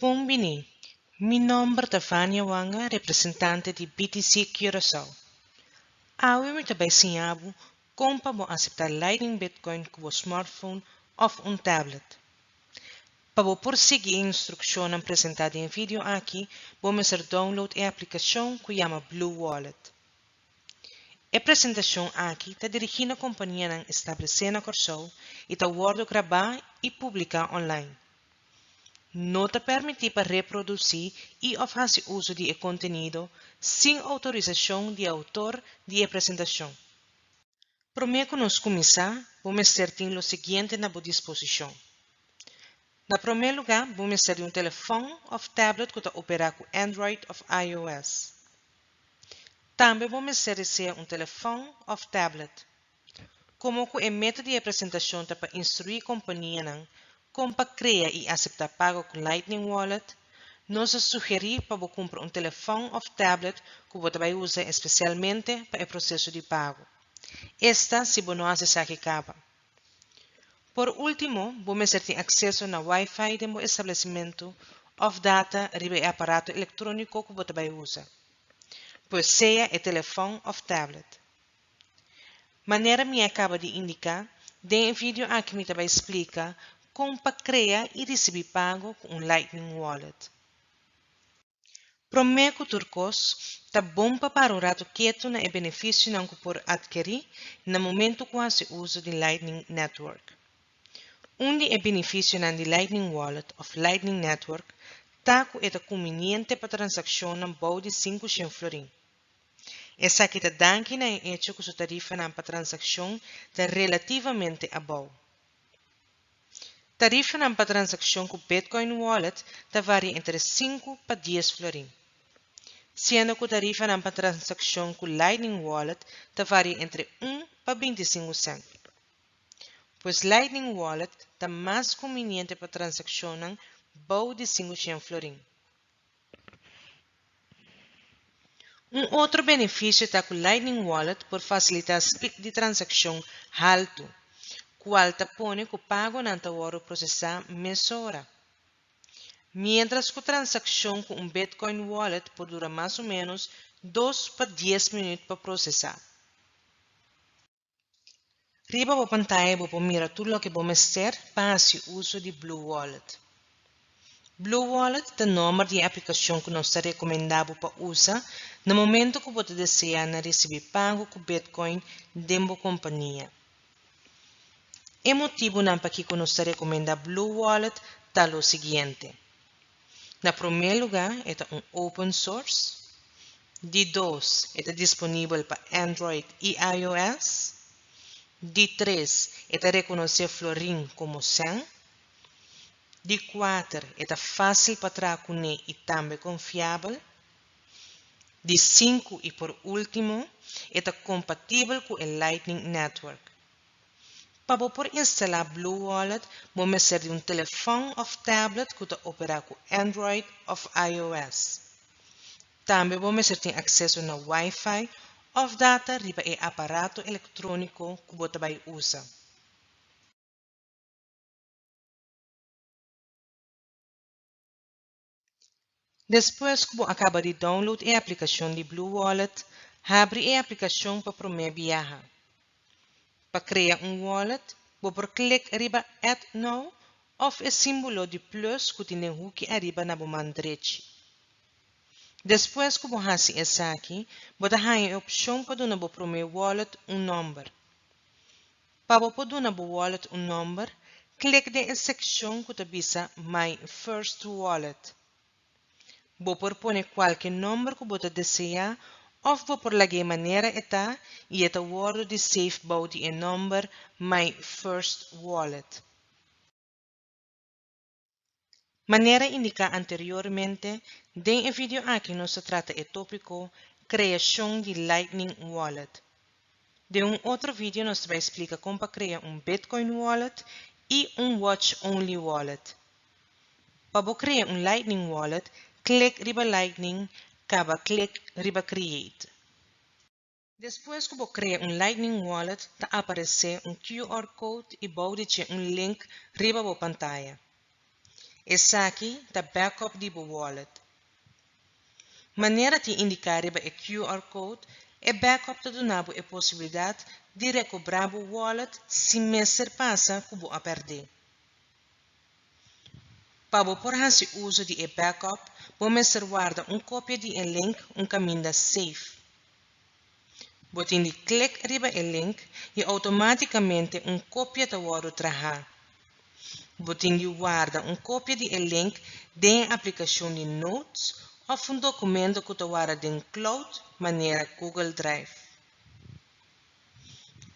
Bon bini. Mi nomber ta Vania Wanga, representante di BTC Curaçao. Awe mi ta bai siña bo kon pa bo asepta Lightning Bitcoin ku bo smartphone of un tablet. Pa bo por sigui e instrukshonnan presentá den video aki, bo mester download e aplikashon ku yama Blue Wallet. E presentacion aki ta dirigi na companianan establece na Corsou y ta wordo graba y publica online. No ta permiti pa reproduci y of haci uso di e contenido sin autorisacion di autor di e presentacion. Promé ku nos kuminsá, bo mester tin lo siguiente na bo disposishon. Na promé lugá, bo mester di un telefòn òf tablet ku ta operá ku Android òf iOS. Tambe bo mester desea un telefòn òf tablet. Komo ku e meta di e presentashon ta pa instruí kompanianan Kon pa krea i aseptá pago ku Lightning Wallet? Nos a sugerí pa bo kumpra un telefòn òf tablet ku bo ta bai usa espesialmente pa e proseso di pago. Esta si bo no hasi esaki kaba. Por último, bo mester tin akseso na Wi-Fi den bo establesimentu òf data riba e aparato elektróniko ku bo ta bai usa. Pues sea e telefòn òf tablet. Manera mi a kaba di indiká, den e video aki mi ta bai splika kon pa krea i risibí pago ku un Lightning Wallet. Promé ku tur kos, ta bon pa para un ratu ketu na e benefisionan ku por atkerí na momentu ku hasi uso di Lightning Network. Un di e binifisionan di Lightning Wallet òf Lightning Network ta ku e ta kuminente pa transakshonnan bou di sinku shen florin. Esaki ta danki na e echo ku su tarifanan pa transakshon ta relativamente abou. Tarifanan pa transakshon ku Bitcoin Wallet ta varia entre sinku pa dies florin, siendo ku tarifanan pa transakshon ku Lightning Wallet ta varia entre un pa binti sinku sent. Pues Lightning Wallet ta mas kumbiniente pa transakshonnan bou di sinku shen florin. Un otro beneficio ta cu Lightning Wallet por facilita speed di transaccion haltu, cual ta pone cu pagonan ta wordo procesa mesora. Mientras cu transaccion cu un Bitcoin wallet por dura mas o menos dos pa dies minuut pa procesa. Riba bo pantaya bo por mira tur loke bo mester pa hasi uso di BlueWallet. BlueWallet ta nomber di e aplikashon ku nos ta rekomendá bo pa usa na momento ku bo ta deseá na risibí pago ku Bitcoin den bo kompania. E motibunan pakiko nos ta rekomendá BlueWallet ta lo siguiente. Na promé lugá e ta un open source, di dos e ta disponibel pa Android i iOS, di tres e ta rekonosé Florin komo sèn, di kuater e ta fásil pa traha kuné i tambe konfiabel, di sinku i por último e ta kompatibel ku e Lightning Network. Pa bo por instalá Blue Wallet, bo mester di un telefòn òf tablet ku ta operá ku Android òf iOS. Tambe bo mester tin akseso na Wi-Fi òf data riba e aparato elektróniko ku bo ta bai usa. Despues ku bo a kaba di download e aplikashon di BlueWallet, habri e aplikashon pa promé biaha. Pa krea un wallet, bo por klik riba Add Now òf e símbolo di plus ku tin den huki ariba na bo man drechi. Despues ku bo hasi esaki, bo ta haña e opshon pa duna bo promé wallet un nòmber. Pa bo por duna bo wallet un nòmber, klik den e sekshon ku ta bisa My First Wallet. Bo por pone kualke nòmber ku bo ta deseá òf bo por lag'é manera e ta i e ta wòrdu di save bou di e nòmber My First Wallet. Manera indiká anteriormente, den e video aki nos ta trata e tópiko Kreashon di Lightning Wallet. Den un otro video nos ta bai splika kon pa krea un Bitcoin Wallet i un Watch Only Wallet. Pa bo krea un Lightning Wallet, klik riba Lightning kaba klik riba Create. Despues ku bo krea un Lightning Wallet ta aparesé un QR code i bou di dje un link riba bo pantaya. Esaki ta backup di bo wallet. Manera tin indiká riba e QR code, e backup ta duna bo e posibilidat di rekobrá bo wallet sin mester pasa ku bo a pèrdé. Pa bo por hasi uso di e backup, bo mester warda un kopia di e link un kaminda safe. Bo tin di klik riba e link i outomátikamente un kopia ta wòrdu trahá. Bo tin di warda un kopia di e link den aplikashon di Notes òf un dokumento ku ta warda den cloud manera Google Drive.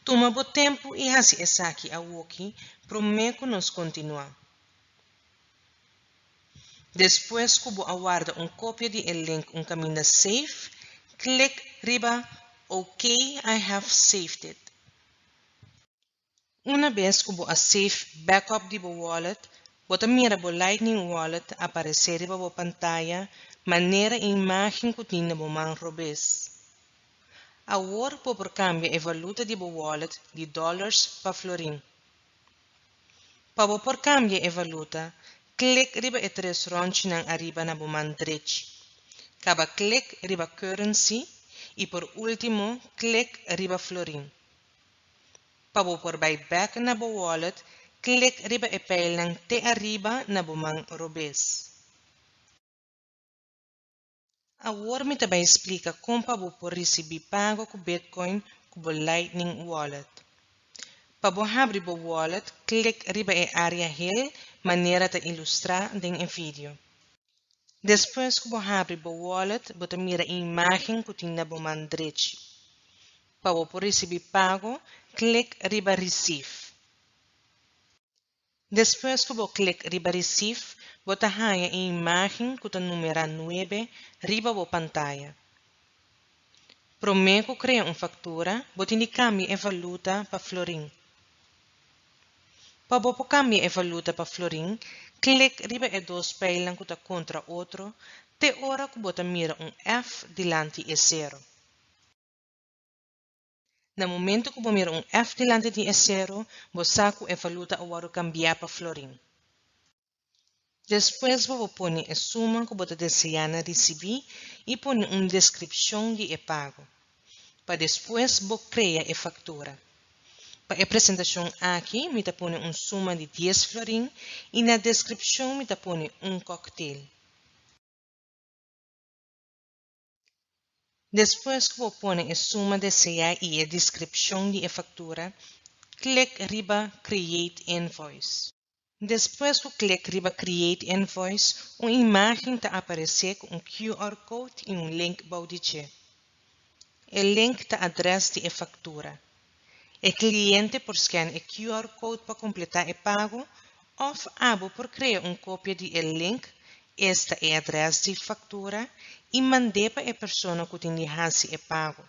Tuma bo tempu i hasi esaki awoki promé ku nos kontinuá. Despues ku bo a warda un kopia di e link un kaminda Save, klik riba OK I have saved it. Una bes cu bo a save backup di bo wallet, bo ta mira bo Lightning Wallet a aparece riba bo pantaya manera e imagen cu tin na bo man robes. Awor bo por cambia e valuta di bo wallet di dollars pa florin. Pa bo por cambia e valuta, click riba e tres ronchinan ariba na bo man drech. Caba click riba Currency y por ultimo click riba Florin. Pa bo por bai bek na bo wallet, klik riba e pijlnan te ariba na bo man robes. Awor mi ta bai splika kon pa bo por risibi pago ku Bitcoin ku bo Lightning Wallet. Pa bo habri bo wallet, klik riba e área hel manera ta ilustrá den e video. Despues ku bo habri bo wallet bo ta mira e imágen ku tin na bo man drechi. Pa bo por risibí pago, klik riba Receive. Despues ku bo klik riba Receive, bo ta haña e imágen ku ta numerá nuebe riba bo pantaya. Promé ku krea un faktura, bo tin di kambia e valuta pa florin. Pa bo por kambia e valuta pa florin, klik riba e dos pijlnan ku ta kontra otro te ora ku bo ta mira un F dilanti e sero. Na momento ku bo mira un F dilanti di e sero, bo sa ku e valuta a wòrdu kambiá pa florin. Despues bo por pone e suma ku bo ta deseá na risibí i pone un deskripshon di e pago, pa despues bo krea e faktura. Pa e presentashon aki mi ta pone un suma di dies florin i na deskripshon mi ta pone un kòktel. Despues cu bo pone e suma desea y e descripcion di e factura, click riba Create Invoice. Despues cu click riba Create Invoice, un imagen ta aparece cu un QR code y un link bou di dje. E link ta adres di e factura. E cliente por scan e QR code pa completa e pago of abo por crea un copia di e link, esta e adres di factura, y mande pa e persona cu tin di haci e pago.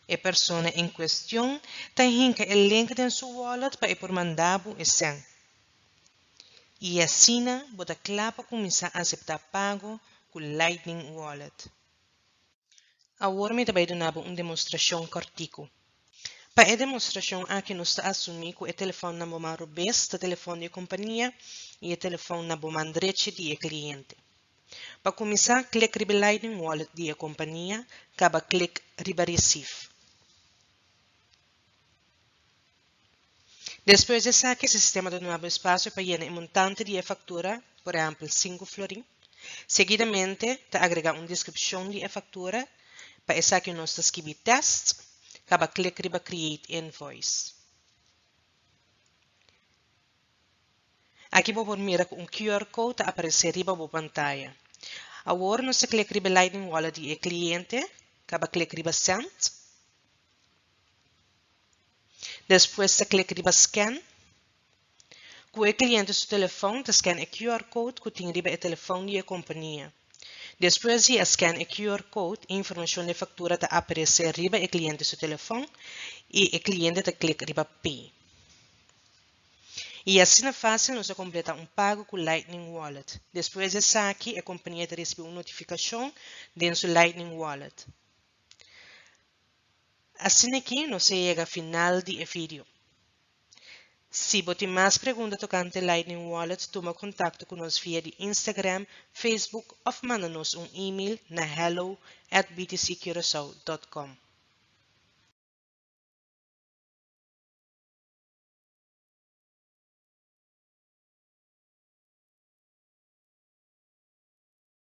E persona en cuestion ta hinca e link den su wallet pa e por manda bo e cen. Y asina bo ta cla pa cuminsa acepta pago cu Lightning Wallet. Awor mi ta bai duna bo un demostrashon kòrtiku. Pa e demostrashon aki nos ta asumí ku e telefòn na bo man robes ta telefòn di e kompania i e telefòn na bo man drechi di e kliente. Pa kuminsá, klik riba Lightning Wallet di e kompania, kaba klik riba Receive. Despues di esaki e sistema ta nuevo espasio pa yena e montante di e faktura, por ehèmpel sinku florin. Seguidamente ta agregá un deskripshon di e faktura, pa esaki nos ta skibi test, kaba klik riba Create Invoice. Aki bo por mira ku un QR code ta aparesé riba bo pantaya. Awor nos ta klik riba e Lightning Wallet di e kliente, kaba klik riba Send. Despues ta click riba Scan. Cu e cliente su telefoon ta scan e QR code cu tin riba e telefoon di e compania. Despues di a scan e QR code, e informacion d'e factura ta aparece riba e cliente su telefoon y e cliente ta click riba Pay. Y asina facil nos a completa un pago cu Lightning Wallet. Despues di esaki e compania ta recibi un notificacion den su Lightning Wallet. Asina ki nos a yega final di e vidio. Si bo tin mas pregunta tokante Lightning Wallet tuma kontakto ku nos via di Instagram, Facebook òf manda nos un email na hello at btccurasao dot com.